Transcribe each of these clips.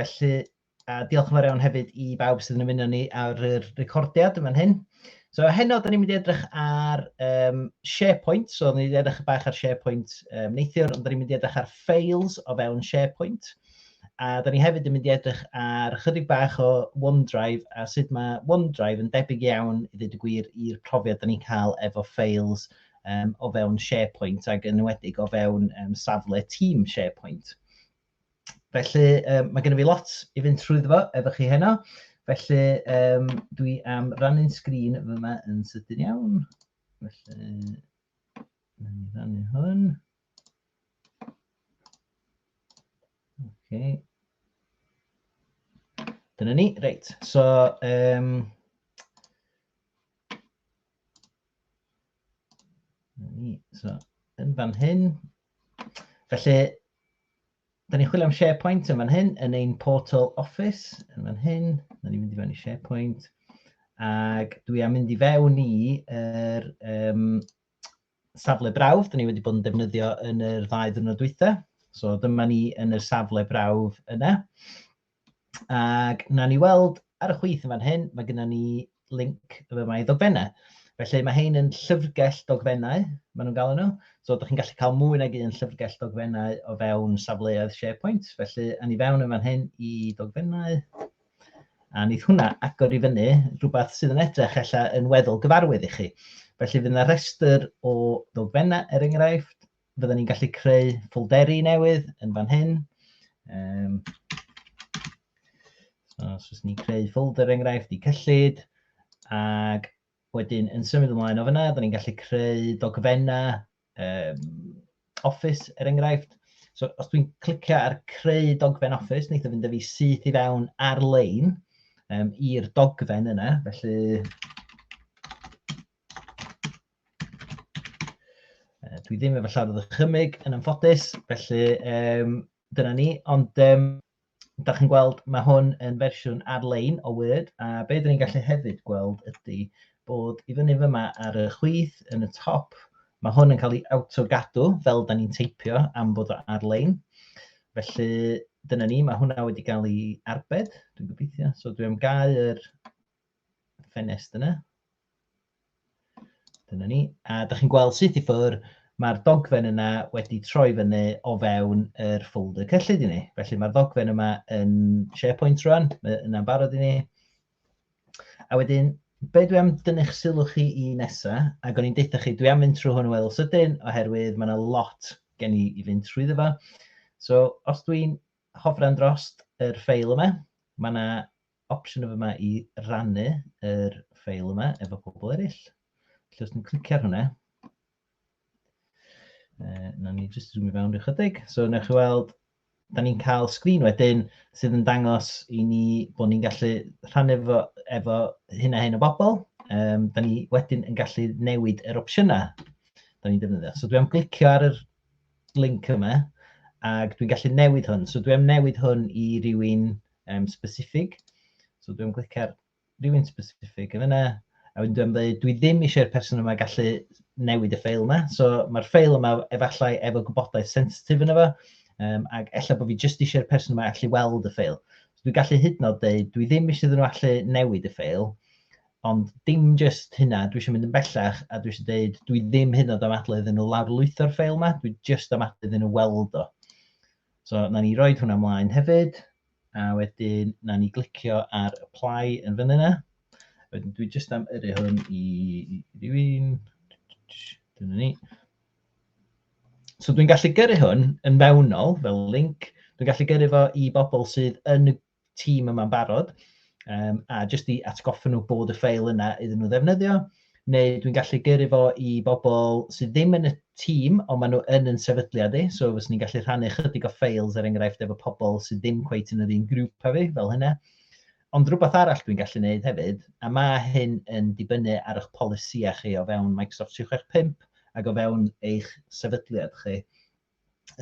Felly, a diolch yn fawr iawn hefyd i bawb sydd yn ymuno ni ar yr recordiad yn fan hyn. So heno, da ni'n mynd i edrych ar um, SharePoint. So, da ni'n edrych bach ar SharePoint um, neithiwr, ond da ni'n mynd i edrych ar files o fewn SharePoint. A da ni hefyd yn mynd i edrych ar chydig bach o OneDrive a sut mae OneDrive yn debyg iawn, i ddweud y gwir, i'r profiad da ni'n cael efo files um, o fewn SharePoint ac yn enwedig o fewn um, safle tîm SharePoint. Felly, um, mae gennym fi lot i fynd trwy fo efo chi heno. Felly, um, dwi am rannu'n sgrin fyma yn sydyn iawn. Felly, na ni rannu hwn. Okay. Dyna ni, reit. So, um, so, yn fan hyn, Felly, da ni'n chwilio am SharePoint yn fan hyn, yn ein portal Office, yn fan hyn. Da ni'n mynd i fewn i SharePoint. Ac dwi am mynd i fewn i er, um, safle brawf, da ni wedi bod yn defnyddio yn yr ddau ddwrnod dwytha. So dyma ni yn y safle brawf yna. Ac na ni weld ar y chwith yn fan hyn, mae gennym ni link y mae ddogfennau. Felly mae hein yn llyfrgell dogfennau, maen nhw'n galw nhw. So, ydych chi'n gallu cael mwy nag un llyfrgell dogfennau o fewn safleoedd SharePoint. Felly, a ni fewn yn fan hyn i dogfennau. A nid hwnna agor i fyny rhywbeth sydd yn edrych ella yn weddol gyfarwydd i chi. Felly, fydd yna rhestr o ddogfennau, er enghraifft, fydden ni'n gallu creu ffolderi newydd yn fan hyn. Um, so, os oes ni'n creu ffolder enghraifft i cyllid, ac wedyn yn symud ymlaen o fyna, fydden ni'n gallu creu dogfennau um, Office er enghraifft. So os dwi'n clicio ar creu dogfen Office, wneud o fynd â fi syth i fewn ar-lein um, i'r dogfen yna. Felly Dwi ddim efo llawer o ddychymyg yn ymffodus, felly um, dyna ni. Ond um, da chi'n gweld, mae hwn yn fersiwn ar-lein o Word, a be dyn ni'n gallu hefyd gweld ydy bod i fyny fyma ar y chwith yn y top, mae hwn yn cael ei awtogadw fel da ni'n teipio am bod o ar-lein. Felly dyna ni, mae hwnna wedi cael ei arbed, dwi'n gobeithio. So dwi'n gau yr ffenest yna. Dyna ni. A da chi'n gweld sut i ffwr, mae'r dogfen yna wedi troi fyny o fewn yr ffolder cyllid i ni. Felly mae'r ddogfen yma yn SharePoint rwan, yna'n barod i ni. A wedyn, be dwi am dynnu'ch sylw chi i nesa, ac o'n i'n deutha chi, dwi am fynd trwy hwn o weddol sydyn, oherwydd mae yna lot gen i i fynd trwy ddefa. So, os dwi'n hofran drost yr ffeil yma, mae yna opsiwn efo yma i rannu yr ffeil yma efo pobl eraill. Felly os dwi'n clicio ar hwnna, uh, na ni jyst zoom i fewn rhyw chydig. So wna chi weld, da ni'n cael sgrin wedyn sydd yn dangos i ni bod ni'n gallu rhannu efo, efo hyn a hyn o bobl. Um, da ni wedyn yn gallu newid yr opsiynau da ni'n defnyddio. So dwi am glicio ar yr link yma, ac dwi'n gallu newid hwn. So dwi'n newid hwn i rywun um, specific. So dwi'n clicio ar rywun specific yn yna, a wedyn dwi'n dweud, dwi ddim eisiau'r person yma gallu newid y ffeil yma. So mae'r ffeil yma efallai efo gwybodaeth sensitif yna fo, um, ac efallai bod fi jyst eisiau'r person yma allu weld y ffeil. So dwi'n gallu hyd yn oed dweud, dwi ddim eisiau iddyn nhw allu newid y ffeil, Ond dim jyst hynna, dwi isio mynd yn bellach a dwi isio deud dwi ddim hyd yn oed am adl iddyn nhw lawrlwytho'r ffeil 'ma, dwi jyst am adl iddyn nhw weld o. So, na ni roed hwnna mlaen hefyd, a wedyn na ni glicio ar apply yn fyny 'na. Wedyn dwi jyst am yrru hwn i rywun. Dyna ni. So dwi'n gallu gyrru hwn yn fewnol fel link, dwi'n gallu gyrru fo i bobl sydd yn y tîm yma'n barod, um, a jyst i atgoffa nhw bod y ffeil yna iddyn nhw ddefnyddio, neu dwi'n gallu gyrru fo i bobl sydd ddim yn y tîm, ond maen nhw yn yn sefydliad i, so fes ni'n gallu rhannu chydig o ffeils er enghraifft efo pobl sydd ddim cweit yn yr un grŵp a fi, fel hynna. Ond rhywbeth arall dwi'n gallu gwneud hefyd, a mae hyn yn dibynnu ar eich polisïau chi o fewn Microsoft 365 ac o fewn eich sefydliad chi,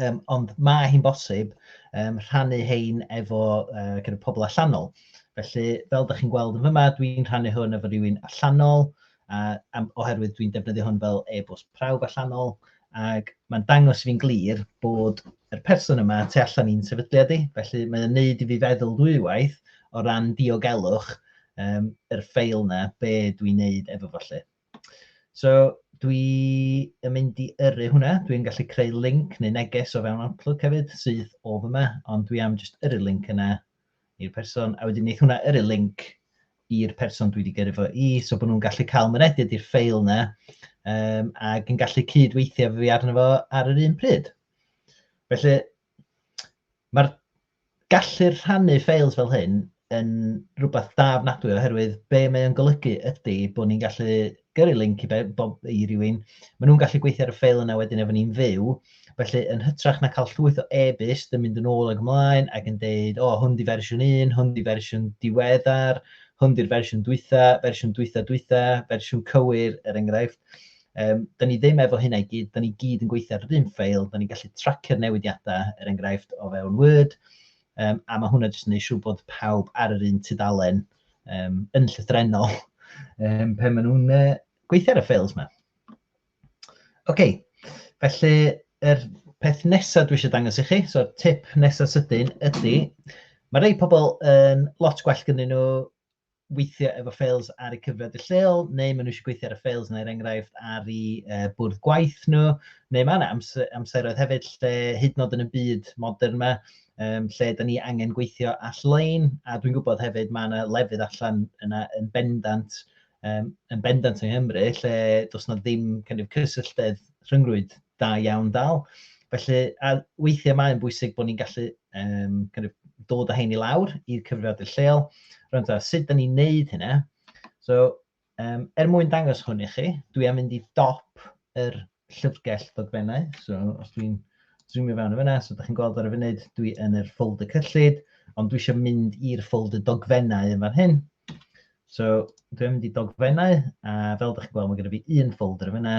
Um, ond mae hi'n bosib um, rhannu hein efo uh, kind of pobl allanol. Felly, fel ydych chi'n gweld yn fyma, dwi'n rhannu hwn efo rhywun allanol, a, a oherwydd dwi'n defnyddio hwn fel e-bost prawf allanol, ac mae'n dangos fi'n glir bod y person yma tu allan i'n sefydliad i, felly mae'n neud i fi feddwl ddwywaith o ran diogelwch um, yr ffeil na, be dwi'n neud efo fo lle. So dwi yn mynd i yrru hwnna, dwi'n gallu creu link neu neges o fewn Outlook hefyd sydd o fyma, ond dwi am jyst yrru link yna i'r person, a wedyn neith hwnna yrru link i'r person dwi wedi gyrru fo i, so bod nhw'n gallu cael mynediad i'r ffeil yna, um, ac yn gallu cydweithio fi arno fo ar yr un pryd. Felly, mae'r gallu rhannu ffeils fel hyn yn rhywbeth da ofnadwy oherwydd be mae o'n golygu ydy bod ni'n gallu gyrru link i, bob, i rywun, maen nhw'n gallu gweithio ar y ffeil yna wedyn efo ni'n fyw, felly yn hytrach na cael llwyth o e-byst yn mynd yn ôl ag ymlaen ac yn deud, o, oh, hwn di fersiwn 1, hwn di fersiwn diweddar, hwn di'r fersiwn dwytha, fersiwn dwytha dwytha, fersiwn cywir, er enghraifft. Yym, dan ni ddim efo hynna i gyd, dan ni gyd yn gweithio ar yr un ffeil, dan ni'n gallu tracio'r newidiadau, er enghraifft, o fewn Word, um, a mae hwnna jyst yn gwneud siŵr bod pawb ar yr un tudalen um, yn llythrenol um, pe maen nhw'n uh, gweithio ar y ffeils yma. Oce, okay. felly yr peth nesaf dwi eisiau dangos i chi, so'r tip nesaf sydyn ydy, mae rhai pobl yn lot gwell gyda nhw weithio efo ffeils ar y cyfrifiadur lleol, neu maen nhw eisiau gweithio ar y ffeils yna, er enghraifft, ar i uh, bwrdd gwaith nhw, neu mae yna amser, amseroedd hefyd lle hyd nod yn y byd modern yma, um, lle da ni angen gweithio all-lein, a dwi'n gwybod hefyd mae yna lefydd allan yna yn bendant, um, yn bendant yng Nghymru, lle does yna ddim kind of, cysylltedd rhyngrwyd Da iawn Dal. Felly, a weithiau mae'n bwysig bod ni'n gallu um, kind of, dod â hyn i lawr i'r cyfrifiadur lleol. Rwy'n dweud, sut da ni'n neud hynna? So, um, er mwyn dangos hwn i chi, dwi am mynd i dop yr llyfrgell ddogfennau. So, os dwi'n zoomio fewn o fyna, so da chi'n gweld ar y funud, dwi yn yr ffold y cyllid, ond dwi eisiau mynd i'r ffold y dogfennau yn fan hyn. So, dwi'n mynd i dogfennau, a fel ydych chi'n gweld, mae gen i fi un ffold ar y fyna,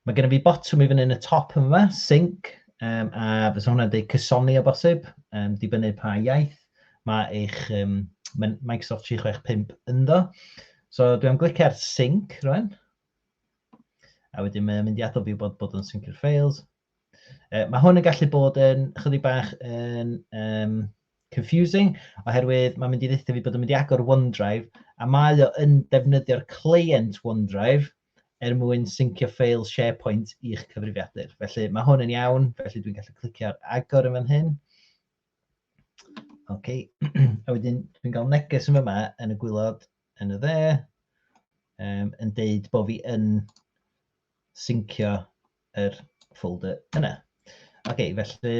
Mae gennym fi botwm i fyny yn y top yn yma, sync, um, a fysa hwnna'n dweud cysoni o bosib, um, dibynnu pa iaith mae eich um, Microsoft 365 ynddo. So dwi'n glicio ar sync rwan, a wedyn mae'n mynd i addo fi bod bod yn sync i'r files. Uh, mae hwn yn gallu bod yn chydig bach yn um, confusing, oherwydd mae'n mynd i ddeitha fi bod yn mynd i agor OneDrive, a mae o yn defnyddio'r client OneDrive, er mwyn syncio ffeil SharePoint i'ch cyfrifiadur. Felly mae hwn yn iawn, felly dwi'n gallu clicio ar agor yn fan hyn. OK, a wedyn dwi'n cael neges yn yma yn y gwylod yn y dde, um, yn deud bod fi yn syncio yr er folder yna. OK, felly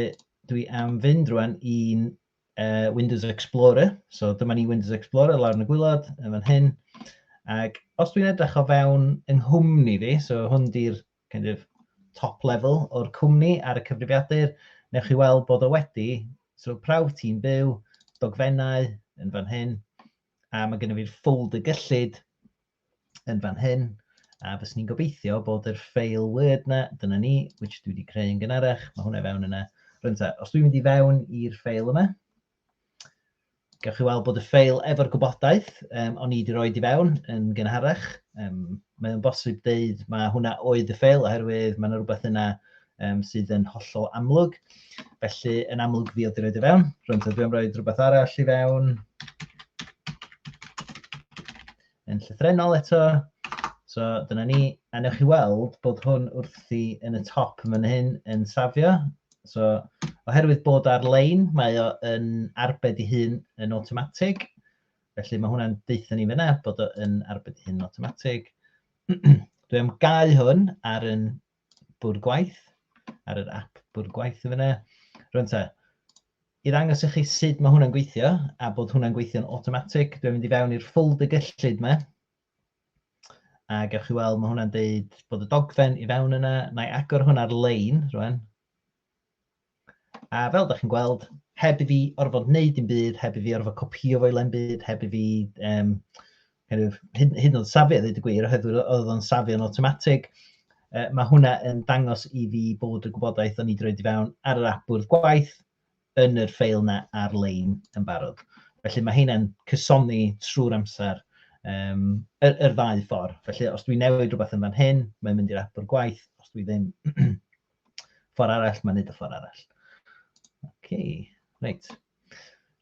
dwi am fynd rwan i'n uh, Windows Explorer. So dyma ni Windows Explorer lawr yn y gwylod, yn fan hyn. Ac os dwi'n edrych o fewn yng nghwmni fi, so hwn di'r kind of, top level o'r cwmni ar y cyfrifiadur, newch chi weld bod o wedi, so prawf ti'n byw, dogfennau yn fan hyn, a mae gennym fi'r ffold y gyllid yn fan hyn, a fyswn ni'n gobeithio bod yr ffeil Word na, dyna ni, which dwi wedi creu yn gynharach, mae hwnna fewn yna. Rwy'n ta, os dwi'n mynd i fewn i'r ffeil yma, gawch chi weld bod y ffeil efo'r gwybodaeth um, o'n i wedi rhoi i fewn yn gynharach. Um, mae'n bosib dweud mae hwnna oedd y ffeil oherwydd mae yna rhywbeth yna um, sydd yn hollol amlwg. Felly, yn amlwg fi oedd wedi rhoi i fewn. Rwy'n dwi am roi rhywbeth arall i fewn. yn llythrenol eto. So dyna ni, a newch chi weld bod hwn wrthi yn y top yn hyn yn safio. So oherwydd bod ar-lein, mae o yn arbed i hun yn automatig. Felly mae hwnna'n deutha ni fyna bod o yn arbed i hun yn automatig. Dwi am gau hwn ar yn Bwrdd Gwaith, ar yr ap Bwrdd Gwaith yn fan'na. Rŵan ta, i ddangos i chi sut mae hwnna'n gweithio, a bod hwnna'n gweithio'n automatic, dwi'n mynd i fewn i'r ffold y gyllid yma, a gewch chi weld, mae hwnna'n deud bod y dogfen i fewn yna, na i agor hwnna'r lein, rwan, A fel ydych chi'n gweld, heb i fi orfod wneud dim byd, heb i fi orfod copio fo i le'n byd, heb i fi um, kind of, hyd, hyd yn oed safi a ddweud y gwir, oherwydd oedd o'n safi o'n automatic. Uh, mae hwnna yn dangos i fi bod y gwybodaeth o'n i droi i fewn ar yr apwrdd gwaith yn yr ffeil na ar-lein yn barod. Felly mae hynna'n cysoni trwy'r amser um, yr, yr ddau ffordd. Felly os dwi'n newid rhywbeth yn fan hyn, mae'n mynd i'r apwrdd gwaith, os dwi ddim, Ffordd arall, mae'n neud y ffordd arall. Oce, okay. reit.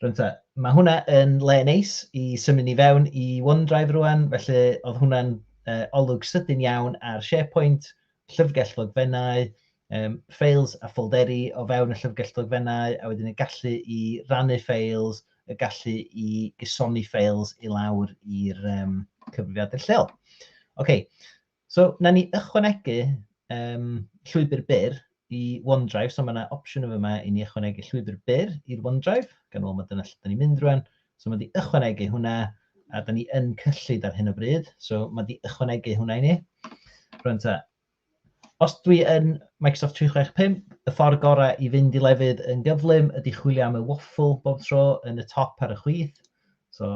Rwyntha, mae hwnna yn le neis i symud ni fewn i OneDrive rwan, felly oedd hwnna'n uh, olwg sydyn iawn ar SharePoint, llyfrgell ddogfennau, um, ffeils a ffolderi o fewn y llyfrgell ddogfennau, a wedyn y gallu i rannu ffeils, y gallu i gysoni ffeils i lawr i'r um, cyfrifiadur lleol. Oce, okay. So, na ni ychwanegu um, llwybr byr i OneDrive, so mae yna opsiwn yn fyma i ni ychwanegu llwybr byr i'r OneDrive, gan ôl mae dyna lle da ni'n mynd rwan. So mae di ychwanegu hwnna, a da ni yn cyllid ar hyn o bryd, so mae di ychwanegu hwnna i ni. Rwan ta, os dwi yn Microsoft 365, y ffordd gorau i fynd i lefydd yn gyflym ydy chwilio am y waffle bob tro yn y top ar y chwith. So,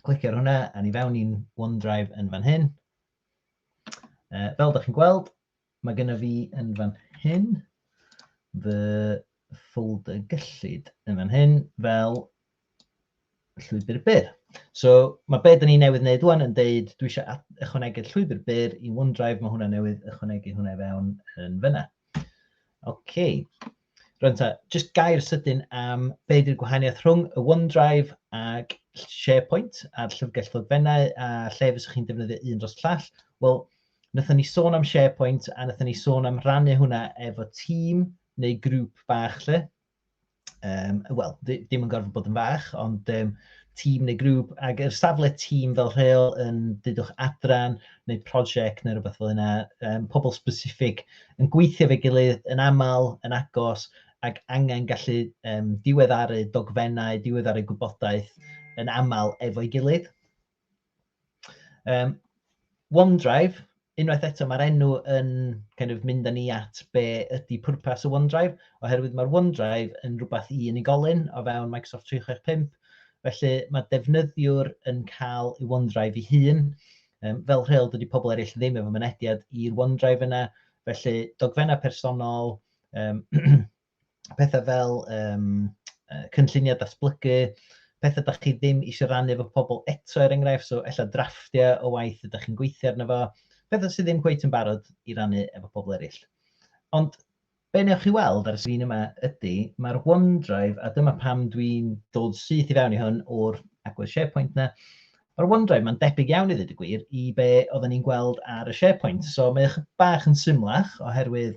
Clicio ar hwnna a ni fewn i'n OneDrive yn fan hyn. Uh, fel ydych chi'n gweld, mae gennym fi yn fan hyn fy ffolder gyllid yn fan hyn fel llwybr byr. So mae beth ni newydd wneud rwan yn deud dwi eisiau ychwanegu'r llwybr byr i OneDrive, mae hwnna newydd ychwanegu hwnna i fewn yn fyna. OK, Rwan ta, jyst gair sydyn am be ydy'r gwahaniaeth rhwng y OneDrive ac SharePoint a'r llyfrgell ddogfennau a lle fyswch chi'n defnyddio un dros llall. Wel, wnaethon ni sôn am SharePoint a wnaethon ni sôn am rannu hwnna efo tîm neu grŵp bach lle. Um, Wel, ddim yn gorfod bod yn fach, ond um, tîm neu grŵp, ac yr safle tîm fel rheol yn dydwch adran neu prosiect neu rhywbeth fel yna, um, pobl specific yn gweithio efo'i gilydd yn aml, yn agos, ac angen gallu um, diweddaru dogfennau, diweddaru gwybodaeth yn aml efo'i gilydd. Um, OneDrive, unwaith eto mae'r enw yn kind of, mynd â ni at be ydy pwrpas y OneDrive, oherwydd mae'r OneDrive yn rhywbeth i unigolyn o fewn Microsoft 365, felly mae defnyddiwr yn cael ei OneDrive ei hun, Um, fel rheol, dydy pobl eraill ddim efo mynediad i'r OneDrive yna, felly dogfennau personol, um, pethau fel um, cynlluniau datblygu, pethau da chi ddim eisiau rannu efo pobl eto er enghraifft, so ella drafftiau o waith ydych chi'n gweithio arno fo, pethau sydd ddim cweith yn barod i rannu efo pobl eraill. Ond Be wnewch chi weld ar y sgrin yma ydy, mae'r OneDrive, a dyma pam dwi'n dod syth i fewn i hwn o'r agwedd SharePoint 'na, mae'r OneDrive 'ma'n debyg iawn i ddweud y gwir i be oedden ni'n gweld ar y SharePoint. So mae o bach yn symlach oherwydd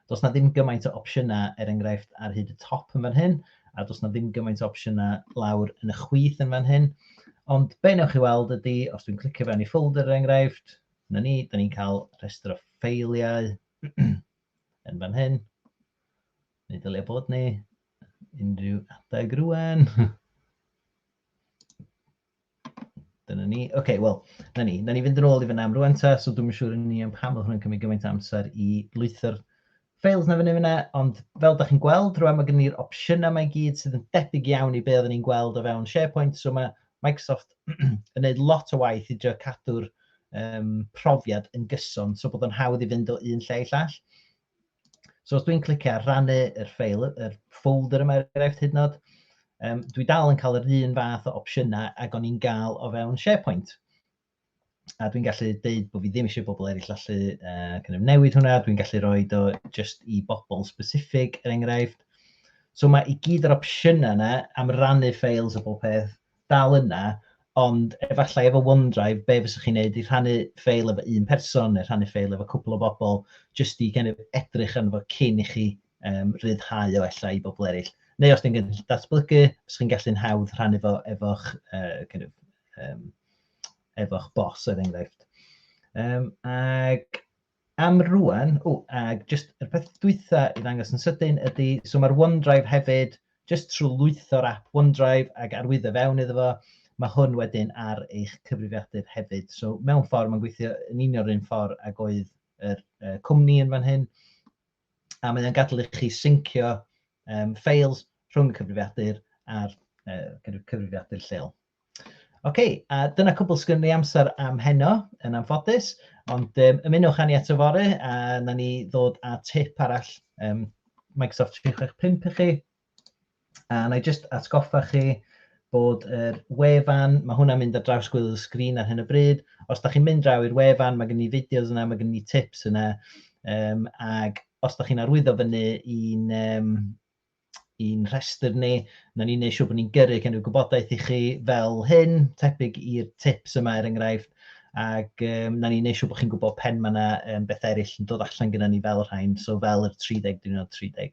does na ddim gymaint o opsiynau er enghraifft ar hyd y top yn fan hyn, a does na ddim gymaint o opsiynau lawr yn y chwith yn fan hyn. Ond be wnewch chi weld ydy, os dwi'n clicio fewn i folder er enghraifft, Dyna ni, da ni'n cael rhestr o ffeiliau yn fan hyn. Ni dylai bod ni unrhyw adeg rwan. Dyna ni. Oce, okay, wel, na ni. Na ni fynd yn ôl i fyna am rwan ta, so dwi'n siŵr yn ni am pam oedd hwnna'n cymryd gymaint amser i lwytho'r Fails na fyny fyna, ond fel da chi'n gweld rwan mae gen ni'r opsiynau mae gyd sydd yn debyg iawn i be oedden ni'n gweld o fewn SharePoint, so mae Microsoft yn gwneud lot o waith i drio cadw'r um, profiad yn gyson, so bod o'n hawdd i fynd o un lle i llall. So os dwi'n clicio ar rannu yr ffeil, yr folder yma er enghraifft hyd nod, um, dwi dal yn cael yr un fath o opsiynau ag o'n i'n gael o fewn SharePoint. a dwi'n gallu deud bod fi ddim eisiau bobl eraill allu uh, kind of newid hwnna, dwi'n gallu rhoi do just i bobl specific er enghraifft. So mae i gyd yr opsiynau yna am rannu ffeils o bob peth dal yna, ond efallai efo OneDrive, be fysa chi'n neud i rhannu ffeil efo un person neu rhannu ffeil efo cwpl o bobl, just i kind of edrych yn fo cyn i chi um, rhyddhau o efallai i bobl eraill. Neu os ti'n gallu datblygu, os chi'n gallu'n hawdd rhannu fo efo'ch uh, kind of, um, efo'ch bos, er enghraifft. Um, ac am rwan, o, ac just y peth dwytha i ddangos yn sydyn ydy, so mae'r OneDrive hefyd, just trwy lwytho'r app OneDrive ac arwyddo fewn iddo fo, mae hwn wedyn ar eich cyfrifiadur hefyd. So mewn ffordd mae'n gweithio yn union yr un ffordd ag oedd yr uh, cwmni yn fan hyn, a mae o'n gadael i chi syncio um, ffeils rhwng y cyfrifiadur a'r uh, cyfrifiadur lleol. Oce, okay, a dyna cwbl sgyn ni amser am heno, yn anffodus, ond um, ymunwch â ni at y fore a na ni ddod â tip arall um, Microsoft 365 i chi A na i jyst atgoffa chi bod yr wefan, mae hwnna'n mynd ar draws gwylio'r sgrin ar hyn o bryd. Os da chi'n mynd draw i'r wefan, mae gen ni fideos yna, mae gen ni tips yna. Um, ac os da chi'n arwyddo fyny i'n um, i'n rhestr ni, na ni'n neud siŵr bod ni'n gyrru gen i'r gwybodaeth i chi fel hyn, tebyg i'r tips yma er enghraifft, ac um, na ni'n neud siŵr bod chi'n gwybod pen mae yna um, beth eraill yn dod allan gyda ni fel rhain, so fel yr 30 diwrnod 30.